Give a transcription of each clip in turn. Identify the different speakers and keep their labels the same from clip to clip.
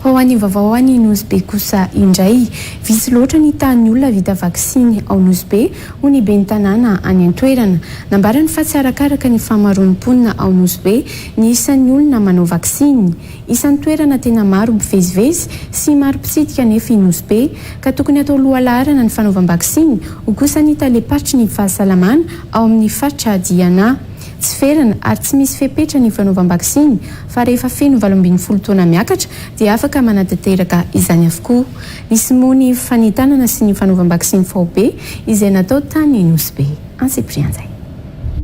Speaker 1: Ho an'ny vaovao any Nosy Be kosa indray, vitsy loatra ny tahan'ny olona vita vaksiny ao Nosy Be, hoy ny ben'ny tanàna any an-toerana. Nambarany fa tsy arakaraka ny fahamaroan'ny mponina ao Nosy Be ny isan'ny olona manao vaksiny. Isan'ny toerana tena maro mpivezivezy sy maro mpitsidika anefa i Nosy Be, ka tokony hatao lohalaharana ny fanaovam-baksiny, hoy kosa ny talem-paritry ny fahasalamana ao amin'ny faritra Diana. Tsy ferana ary tsy misy fepetra ny fanaovam-baksiny. fa rehefa feno valo ambin'ny folo taona miakatra dia afaka manatanteraka izany avokoa. Nisy moa ny fanentanana sy ny fanaovam-baksiny faobe izay natao tany Nosy-Be. Antsiprianjay.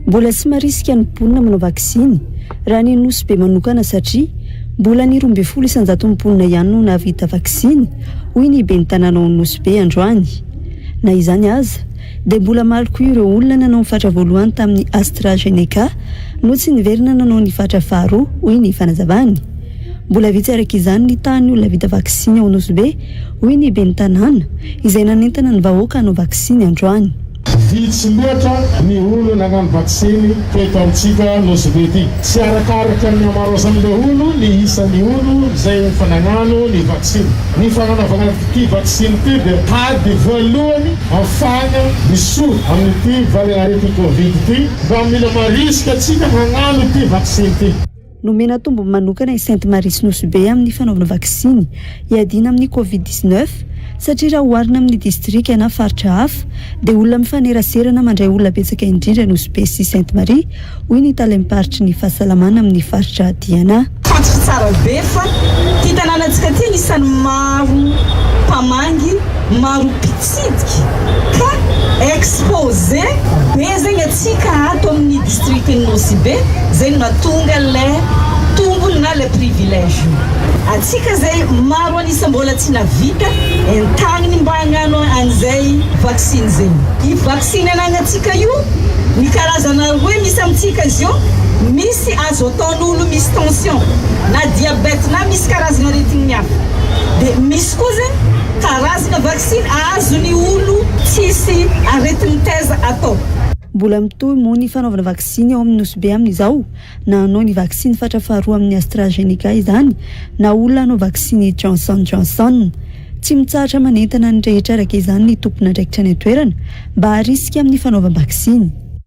Speaker 1: Mbola
Speaker 2: tsy marisika ny mponina manao vaksiny raha ny Nosy-Be manokana satria mbola ny roa ambin'ny folo isan-jaton'ny mponina ihany no nahavita vaksiny, hoy ny ben'ny tanàna ao Nosy-Be androany. Na izany aza, dia mbola maro koa ireo olona nanao ny fatra voalohany tamin'ny AstraZeneca no tsy niverina nanao ny fatra faharoa, hoy ny fanazavany. Mbola vitsy araka izany ny tahan'ny olona vita vaksiny ao Nosy-Be, hoy ny ben'ny tanàna, izay nanentana ny vahoaka hanao vaksiny androany. Vitsy
Speaker 3: loatra ny olona nanao ny vaksiny teto amintsika Nosy-Be ity. Tsy arakaraka ny hamaraozan'ilay olo ny isan'ny olo izay efa nagnano ny vaksiny. Ny fagnanaovana ity vaksiny ity dia tady voalohany Hahafahana hisoa amin'ity valanaretin'ny Covid ity mba mila marisika antsika hagnano ity vaksiny ity. Nomena tombony
Speaker 2: manokana i Sainte Marie sy Nosy Be amin'ny fanaovana vaksiny hiadiana amin'ny Covid dix-neuf satria raha oharina amin'ny distrika na faritra hafa dia olona mifaneraserana mandray olona betsaka indrindra Nosy Be sy Sainte Marie hoy ny talem-paritry ny fahasalamana amin'ny faritra Diana. Fantatra tsara be
Speaker 4: fa ity tanànantsika ity anisan'ny maro mpamangy, maro mpitsidika ka expose be zegny antsika ato amin'ny district-n'i Nosy Be, zay no mahatonga le tombony na le privilège io antsika zay maro an'isa mbola tsy nahavita entagniny mba hagnano an'izay vaksiny zay. Tsy ny anagnantsika io, ny karazana roe misy amintsika izy io, misy azo ataon'olo misy tension na diabète na misy karazana aretigny hafa. De misy koa zegny karazana vaksiny azo ny olo tsisy aretigny taiza atao. Mbola mitohy
Speaker 2: moa ny fanaovana vaksiny ao amin'ny Nosy Be amin'izao na hanao ny vaksiny fatra faharoa amin'ny AstraZeneca izany na olona hanao vaksiny Johnson Johnson. Tsy mitsahatra manentana ny rehetra araka izany ny tompon'andraikitra any an-toerana mba harisika amin'ny fanaovam-baksiny.